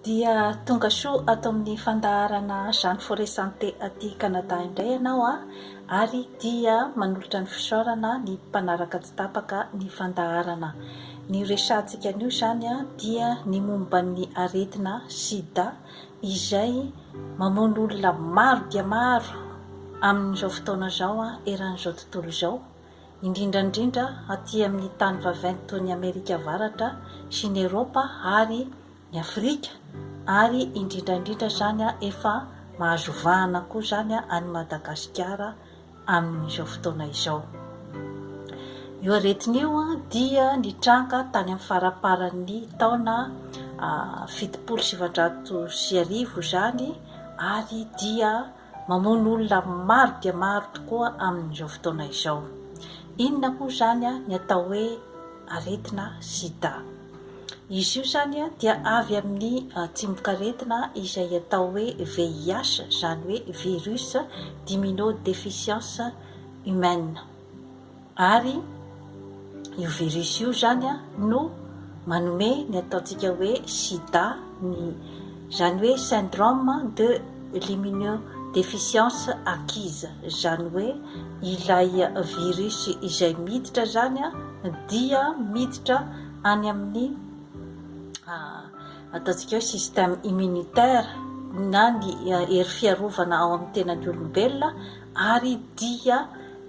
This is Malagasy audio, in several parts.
Dia tonga soa ato amin'ny fandaharana Jeanne Forest Santé aty Canada indray ianao a! ary dia manolotra ny fisaorana ny mpanaraka tsy tapaka ny fandaharana. Ny resahantsika anio izany dia ny momba ny aretina sida izay mamono olona maro dia maro amin'izao fotoana izao eran'izao tontolo izao. indrindra indrindra aty amin'ny tany vaventy toy ny Amerika Avaratra sy ny Eropa ary ny Afrika ary indrindra indrindra izany efa mahazo vahana koa izany any Madagasikara amin'izao fotoana izao. Io aretina io dia nitranga tany amin'ny faramparan'ny taona fitopolo sy sivinjato sy arivo izany ary dia Mamono olona maro dia maro tokoa amin'izao fotoana izao. Inona moa izany ny atao hoe aretina sida? Izy io izany dia avy amin'ny tsimok'aretina izay atao hoe VIH, izany hoe virus d'immunodeficience humaine. Ary io virus io izany no manome ny ataontsika hoe sida, ny izany hoe syndrome de l'immunodéficience acquise, izany hoe ilay virus izay miditra izany dia miditra any amin'ny ataontsika hoe système immunitaire na ny hery fiarovana ao amin'ny tenan'ny olombelona ary dia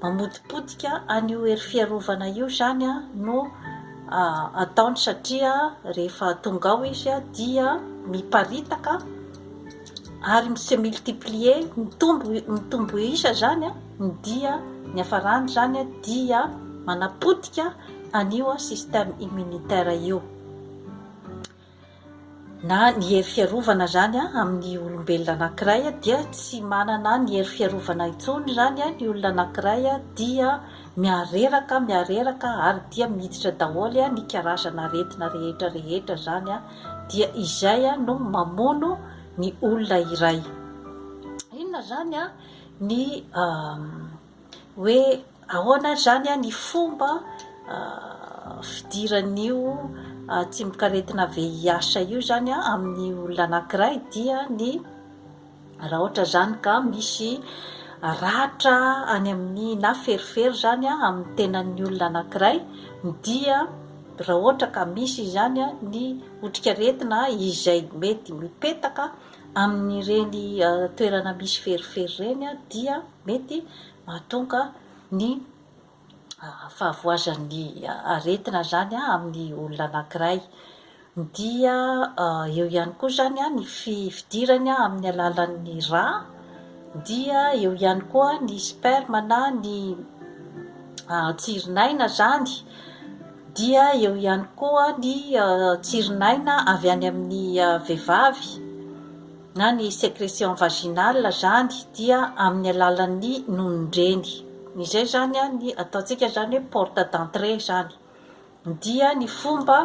mamotipotika an'io hery fiarovana io izany no ataony satria rehefa tonga ao izy dia miparitaka ary mi se multiplier mitombo mitombo isa izany ny dia ny hafarany izany dia manapotika an'io système immunitaire io Na ny hery fiarovana izany amin'ny olombelona anankiray dia tsy manana ny hery fiarovana intsony izany ny olona anankiray dia miareraka miareraka ary dia miditra daholo ny karazana aretina rehetra rehetra izany dia izay no mamono ny olona iray. Inona izany ny hoe ahoana ary izany ny fomba fidiran'io tsimokaretina VIH io izany amin'ny olona anankiray dia ny raha ohatra izany ka misy ratra any amin'ny na ferifery izany amin'ny tenan'ny olona anankiray dia raha ohatra ka misy izany ny otrikaretina izay mety mipetaka amin'ireny toerana misy ferifery ireny dia mety mahatonga ny fahavoazan'ny aretina izany amin'ny olona anankiray. Dia eo ihany koa izany ny fidirany amin'ny alalan'ny rà, dia eo ihany koa ny sperme na ny tsirin'aina izany, dia eo ihany koa ny tsirin'aina avy any amin'ny vehivavy. na ny secretion vaginale zany dia amin'ny alalan'ny nonon-dreny izay zany a ny ataontsika zany hoe porte d'entrée zany dia ny fomba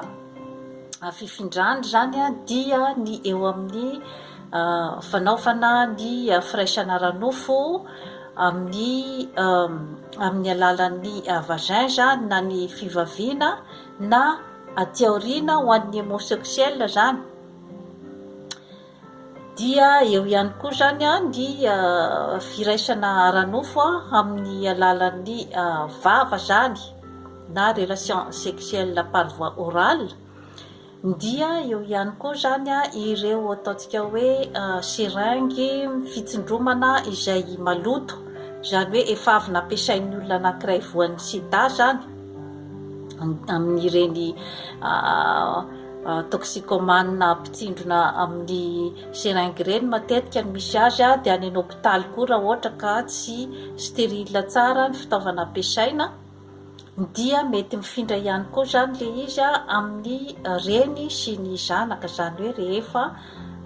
fifindrany zany a dia ny eo amin'ny fanaovana ny firaisana ara-nofo amin'ny amin'ny alalan'ny vagin zany na ny fivaviana na aty aoriana ho an'ny homosexuel zany dia eo ihany koa izany ny firaisana ara-nofo amin'ny alalan'ny vava izany na relation sexuelle par voie orale dia eo ihany koa izany ireo ataontsika hoe seringue fitsindromana izay maloto izany hoe efa avy nampiasain'ny olona anankiray voan'ny sida izany amin'ireny toxicomane mpitsindrona amin'ny seringue ireny matetika ny misy azy dia any an' hôpitaly koa raha ohatra ka tsy stérile tsara ny fitaovana ampiasaina dia mety mifindra ihany koa izany ilay izy amin'ny reny sy ny zanaka izany hoe rehefa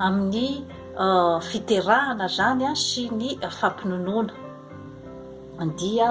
amin'ny fiterahana izany sy ny fampinonoana dia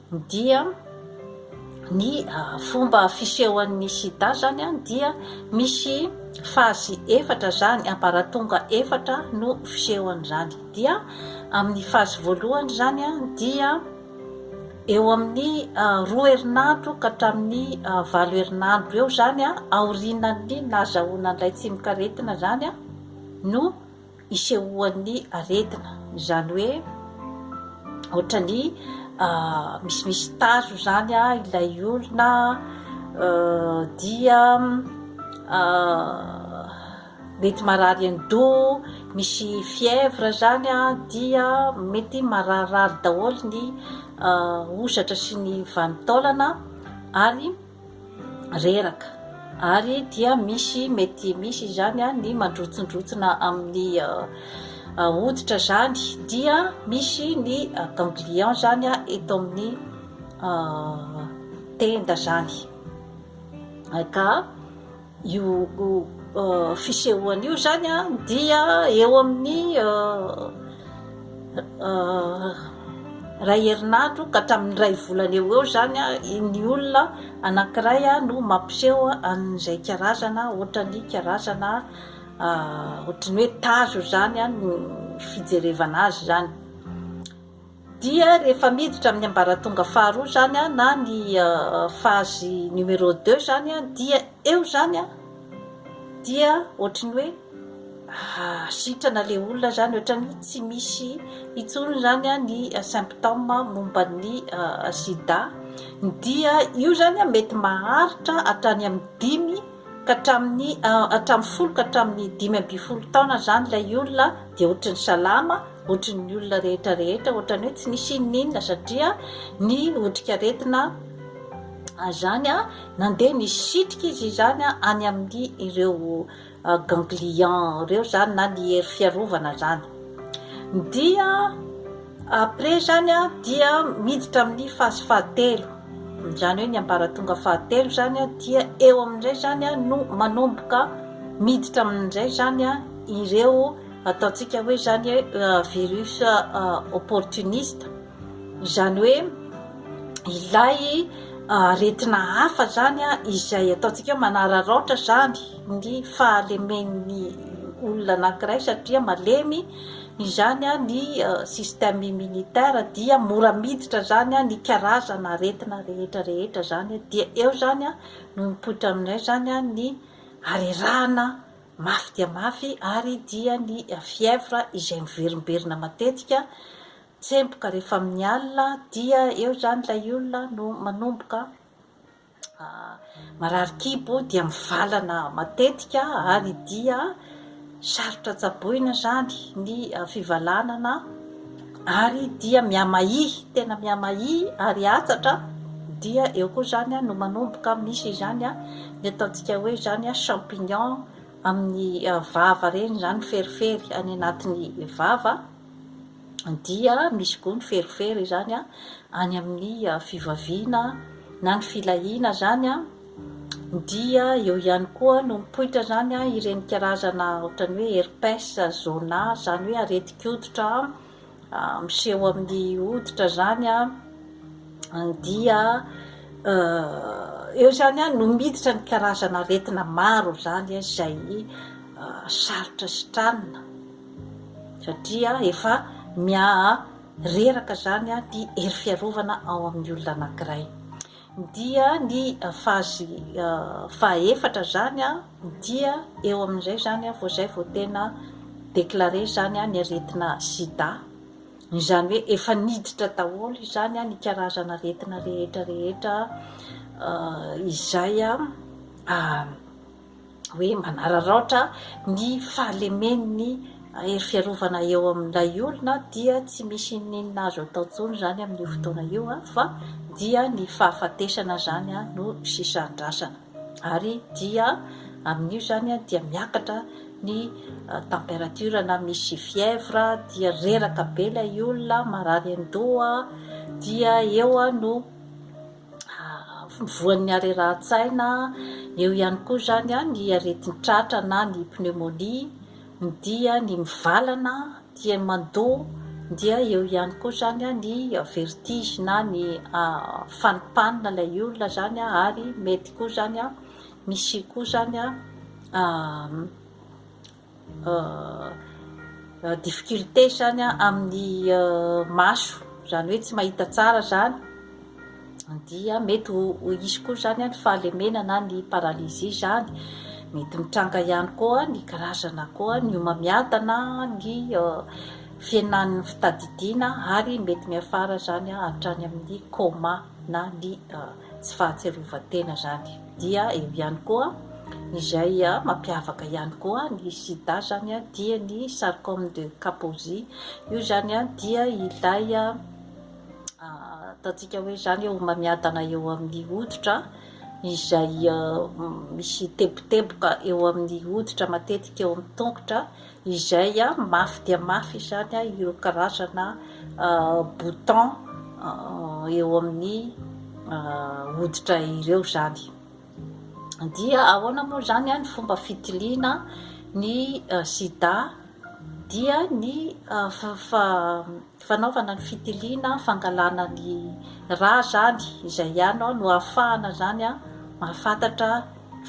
dia ny fomba fisehoan'ny sida zany dia misy fazy efatra zany ambaratonga efatra no fisehoan'izany dia amin'ny fazy voalohany zany dia eo amin'ny roa herinandro ka hatramin'ny valo herinandro eo zany aorianan'ny nahazahoana an'ilay tsimokaretina zany no isehoan'ny aretina, izany hoe ohatran'ny misimisy tazo izany ilay olona dia mety marary an-doha, misy fièvre izany dia mety mararirary daholo ny hosatra sy ny vanin-taolana ary reraka ary dia misy mety misy izany ny mandrotsindrotsina amin'ny hoditra izany dia misy ny ganglion izany eto amin'ny tenda izany ka Io fisehoana io izany dia eo amin'ny iray herinandro ka hatramin'ny iray volana eo ho eo izany ny olona anankiray no mampiseho an'izay karazana ohatran'ny karazana ohatran'ny hoe tazo izany ny fijerevana azy izany. dia rehefa miditra amin'ny ambaratonga faharoa izany na ny phase numero deux izany dia eo izany dia ohatran'ny hoe sitrana ilay olona izany, ohatran'ny hoe tsy misy intsony izany ny symptômes momba ny sida, dia io izany mety maharitra hatrany amin'ny dimy ka hatramin'ny folo ka hatramin'ny dimy ambin'ny folo taona izany ilay olona dia ohatran'ny salama, ohatry ny olona rehetra rehetra ohatran'ny hoe tsy nisy inona inona satria ny otrikaretina zany a nandeha nisitrika izy izany a any amin'ny ireo ganglion ireo zany na ny hery fiarovana zany dia après zany a dia miditra amin'ny phase fahatelo zany hoe ny ambaratonga fahatelo zany a dia eo amin'izay zany a no manomboka miditra amin'izay zany a ireo Ataontsika hoe izany hoe virus opportuniste, izany hoe ilay aretina hafa izany izay ataontsika hoe manararaotra izany ny fahalemen'ny olona anankiray satria malemy izany ny système immunitaire dia mora miditra izany ny karazana aretina rehetra rehetra izany dia eo izany no mipoitra aminay izany ny harerahana mafy dia mafy ary dia ny fièvre izay miverimberina matetika, tsemboka rehefa amin'ny alina dia eo izany ilay olona no manomboka marary kibo dia mivalana matetika ary dia sarotra tsaboina izany ny fivalanana. ary dia mihamaihy tena mihamaihy ary hatsatra dia eo koa izany no manomboka misy izany ny ataontsika hoe izany champignon amin'ny vava ireny izany ferifery any anatin'ny vava dia misy koa ny ferifery izany any amin'ny fivaviana na ny filahiana izany dia eo ihany koa no mipoitra izany ireny karazana ohatran'ny hoe herpes zona izany hoe aretin-koditra miseho amin'ny hoditra izany dia eo izany no miditra ny karazana aretina maro izany izay sarotra sitranina satria efa miha reraka izany ny hery fiarovana ao amin'ny olona anankiray. Dia ny fazy fahaefatra izany dia eo amin'izay izany vao izay vao tena declarer izany ny aretina sida. Izany hoe efa niditra daholo izany ny karazana aretina rehetra rehetra izay hoe manararaotra ny fahalemen'ny hery fiarovana eo amin'ilay olona dia tsy misy inon'inona azo atao intsony izany amin'io fotoana io fa dia ny fahafatesana izany no sisa andrasana ary dia amin'io izany dia miakatra ny température na misy fièvre dia reraka be ilay olona marary an-doha dia eo no voan'ny harerahan-tsaina, eo ihany koa izany ny aretin-tratra na ny pneumonie, dia ny mivalana, dia ny mandoa, dia eo ihany koa izany ny vertige na ny fanimpanina ilay olona izany ary mety koa izany misy koa izany difficulté izany amin'ny maso izany hoe tsy mahita tsara izany dia mety ho hisy koa izany ny fahalemena na ny paralysie izany, mety mitranga ihany koa ny karazana koa ny homamiadana ny fihenan'ny fitadidiana ary mety miafara izany hatrany amin'ny coma na ny tsy fahatsiarovan-tena zany dia eo ihany koa izay mampiavaka ihany koa ny sida zany dia ny sarcome de Kaposi io zany dia ilay ataontsika hoe zany homamiadana eo amin'ny hoditra izay misy teboteboka eo amin'ny hoditra matetika eo amin'ny tongotra izay mafy dia mafy izany ireo karazana bouton eo amin'ny hoditra ireo izany. Dia ahoana moa izany ny fomba fitiliana ny sida dia ny fanaovana ny fitiliana fangalana ny rà izany, izay ihany no ahafahana izany mahafantatra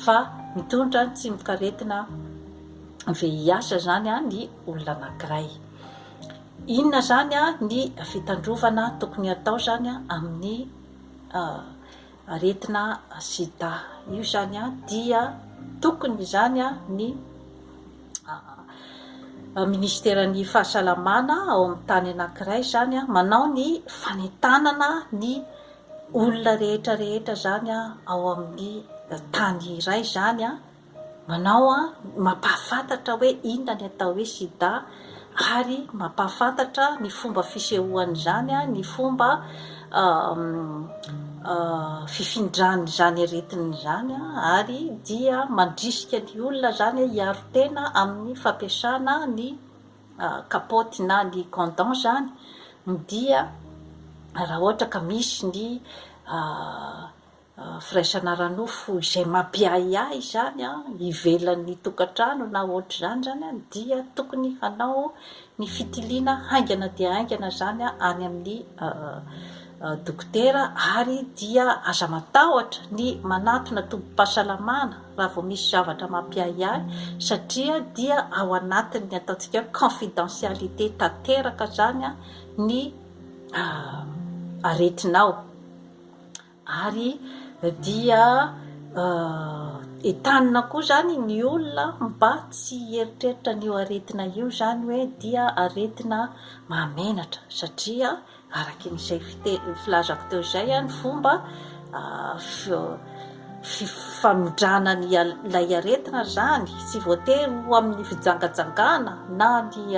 fa mitondra ny tsimokaretina. VIH zany ny olona anankiray. Inona zany ny fitandrovana tokony atao zany amin'ny aretina sida io zany dia tokony zany ny minisiteran'ny fahasalamana ao amin'ny tany anankiray zany manao ny fanentanana ny olona rehetra rehetra zany ao amin'ny tany iray zany Manao an, mampahafantatra hoe inona ny atao hoe sida ary mampahafantatra ny fomba fisehoan'izany, ny fomba fifindran'izany aretina izany ary dia mandrisika ny olona izany hiaro tena amin'ny fampiasana ny kapaoty na ny condom izany dia raha ohatra ka misy ny Firaisana ara-nofo izay mampiahiahy izany ivelan'ny tokantrano na ohatr'izany izany dia tokony hanao ny fitiliana haingana dia haingana izany any amin'ny dokotera ary dia aza matahotra ny manatona tobim-pahasalamana raha vao misy zavatra mampiahiahy satria dia ao anatin'ny ataontsika hoe confidentialité tanteraka izany ny aretinao. Ary dia entanina koa izany ny olona mba tsy hieritreritra an'io aretina io izany hoe dia aretina mahamenatra satria araka izay filazako teo izay ny fomba famindrana ilay aretina izany tsy voatery ho amin'ny fijangajangana na ny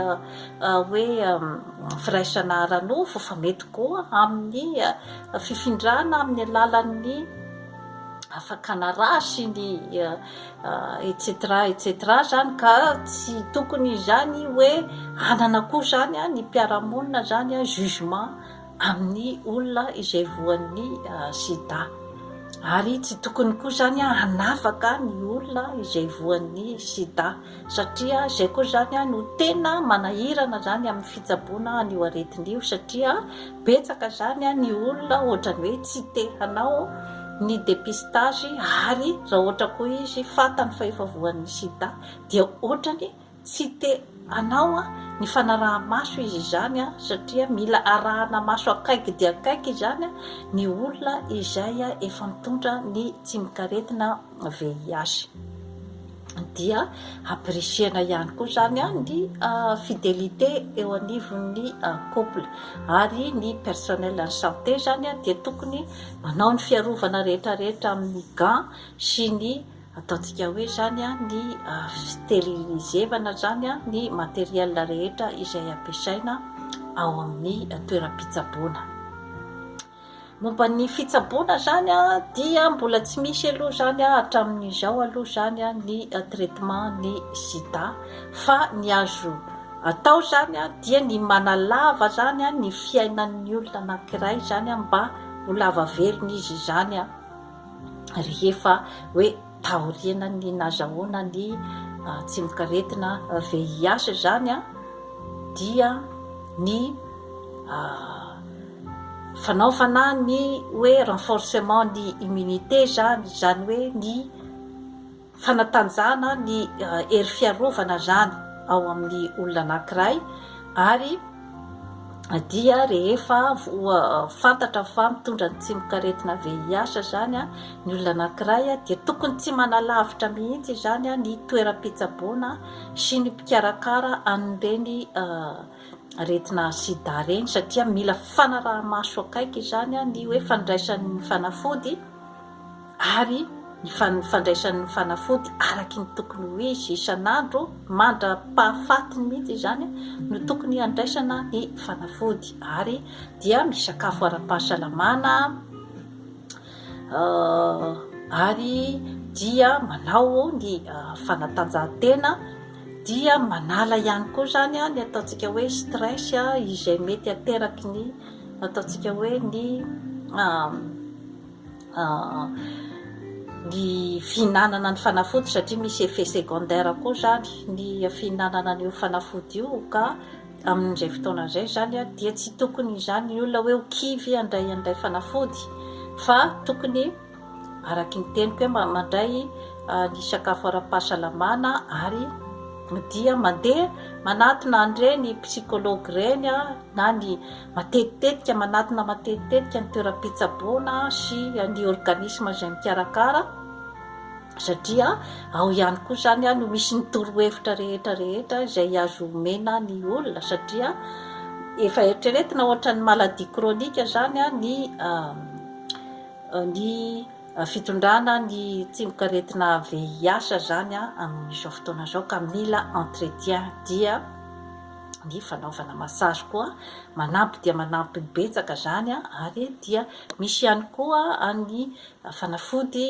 hoe firaisana ara-nofo fa mety koa amin'ny Fifindrana amin'ny alalan'ny fakana ra sy ny etc etc zany ka tsy tokony izany hoe hanana koa zany ny mpiara-monina zany jugement amin'ny olona izay voan'ny sida ary tsy tokony koa zany hanafaka ny olona izay voan'ny sida. satria izay koa izany no tena manahirana izany amin'ny fitsaboana an'io aretina io satria betsaka izany ny olona ohatran'ny hoe tsy te hanao ny dépistage ary raha ohatra koa izy fantany fa efa voan'ny sida dia ohatrany tsy te hanao ny fanaraha-maso izy izany satria mila arahana maso akaiky dia akaiky izany ny olona izay efa mitondra ny tsimok'aretina VIH. dia apprécier-na ihany koa izany ny fidelité eo anivon'ny couple ary ny personnel en santé izany dia tokony manao ny fiarovana rehetra rehetra amin'ny gants sy ny ataontsika hoe izany ny steriliser-vana izany ny materiels rehetra izay ampiasaina ao amin'ny toeram-pitsaboana. Momba ny fitsaboana izany dia mbola tsy misy aloha izany hatramin'izao aloha izany ny traitement ny sida fa ny azo atao izany dia ny manalava izany ny fiainan'ny olona anankiray izany mba ho lava velona izy izany rehefa hoe Taorian'ny nazahoana ny tsimokaretina VIH izany dia ny fanaovana ny hoe renforcement ny immunité izany, izany hoe ny fanatanjahana ny hery fiarovana izany ao amin'ny olona anankiray ary dia rehefa fantatra fa mitondra ny tsimok'aretina VIH izany ny olona anankiray dia tokony tsy manalavitra mihitsy izany ny toeram-pitsaboana sy ny mpikarakara an'ireny aretina sida ireny satria mila fanaraha-maso akaiky izany ny hoe fandraisan'ny fanafody ary ny fandraisan'ny fanafody araky ny tokony ho izy isan'andro mandra-pahafatiny mihitsy izany no tokony handraisana ny fanafody ary dia misakafo ara-pahasalamana ary dia manao ny fanatanjahantena dia manala ihany koa izany a ny ataontsika hoe stress a izay mety ateraky ny ataontsika hoe ny ny fihinanana ny fanafody satria misy effet secondaire koa izany ny fihinanana an'io fanafody io ka amin'izay fotoana izay izany dia tsy tokony izany ny olona hoe ho kivy handray an'ilay fanafody fa tokony araky ny teniko hoe mandray ny sakafo ara-pahasalamana ary dia mandeha manatona an'ireny psychologue ireny na ny Matetitetika, manatona matetitetika ny toeram-pitsaboana sy ny organisme izay mikarakara satria ao ihany koa izany no misy ny torohevitra rehetra rehetra izay azo omena ny olona satria efa eritreretina ohatran'ny maladie chronique izany ny ny fitondrana ny tsimok'aretina VIH izany amin'izao fotoana izao ka mila entretien dia ny fanaovana massage koa manampy dia manampy betsaka izany ary dia misy ihany koa ny fanafody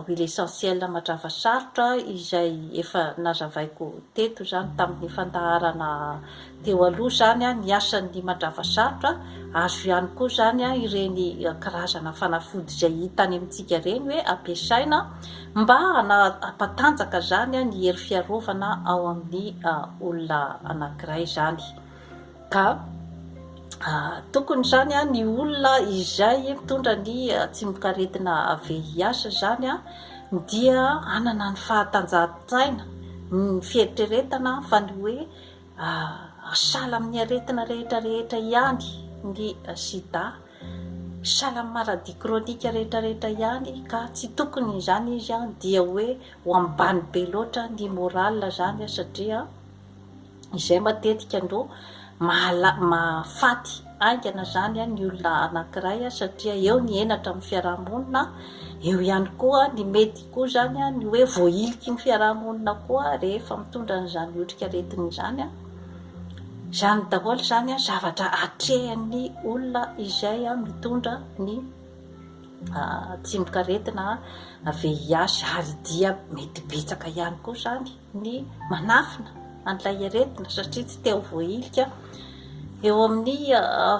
huile essentielle matrava sarotra izay efa nazavaiko teto izany tamin'ny fandaharana teo aloha izany ny asan'ny matrava sarotra azo ihany koa izany ireny karazana fanafody izay hita any amintsika ireny hoe ampiasaina Mba hanapatanjaka izany ny hery fiarovana ao amin'ny olona anankiray izany. Ka tokony izany ny olona izay mitondra ny tsimokaretina VIH izany dia hanana ny fahatanjahantsaina, ny fieritreretana fa ny hoe sahala amin'ny aretina rehetra rehetra ihany ny sida. Salam maradi chronique rehetra rehetra ihany ka tsy tokony izany izy an dia hoe ho ambany be loatra ny moral zany an satria izay matetika no mahala mahafaty haingana zany an ny olona anakiray an satria eo ny henatra amin'ny fiarahamonina eo ihany koa ny mety koa zany an ny hoe voahiliky ny fiarahamonina koa rehefa mitondra an'izany otrikaretina izany an Izany daholo izany zavatra atrehan'ny olona izay mitondra ny tsimok'aretina VIH ary dia mety betsaka ihany koa izany ny manafina an'ilay aretina satria tsy te ho voahilika eo amin'ny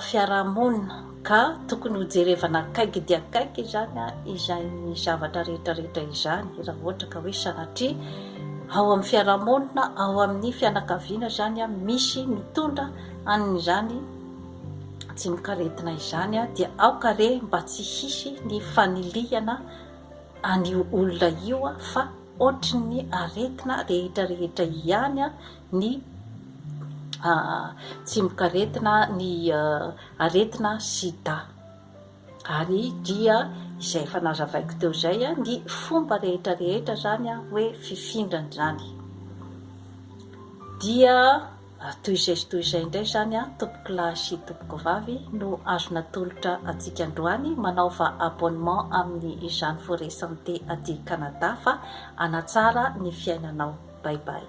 fiarahamonina. Ka tokony ho jerevana akaiky dia akaiky izany izany zavatra rehetra rehetra izany raha ohatra ka hoe sanatria ao amin'ny fiarahamonina ao amin'ny fianakaviana izany misy mitondra an'izany tsimokaretina izany dia aoka re mba tsy hisy ny fanilihana an'io olona io fa ohatrin'ny aretina rehetra rehetra ihany ny tsimokaretina ny aretina sida ary dia izay efa nazavaiko teo izay ny fomba rehetra rehetra izany hoe fifindrana izany dia toy izay sy toy izay indray izany a tompoko lahy sy tompoko vavy no azo natolotra antsika androany manaova abonnement amin'ny izany forêt santé aty Canada fa anatsara ny fiainanao bye bye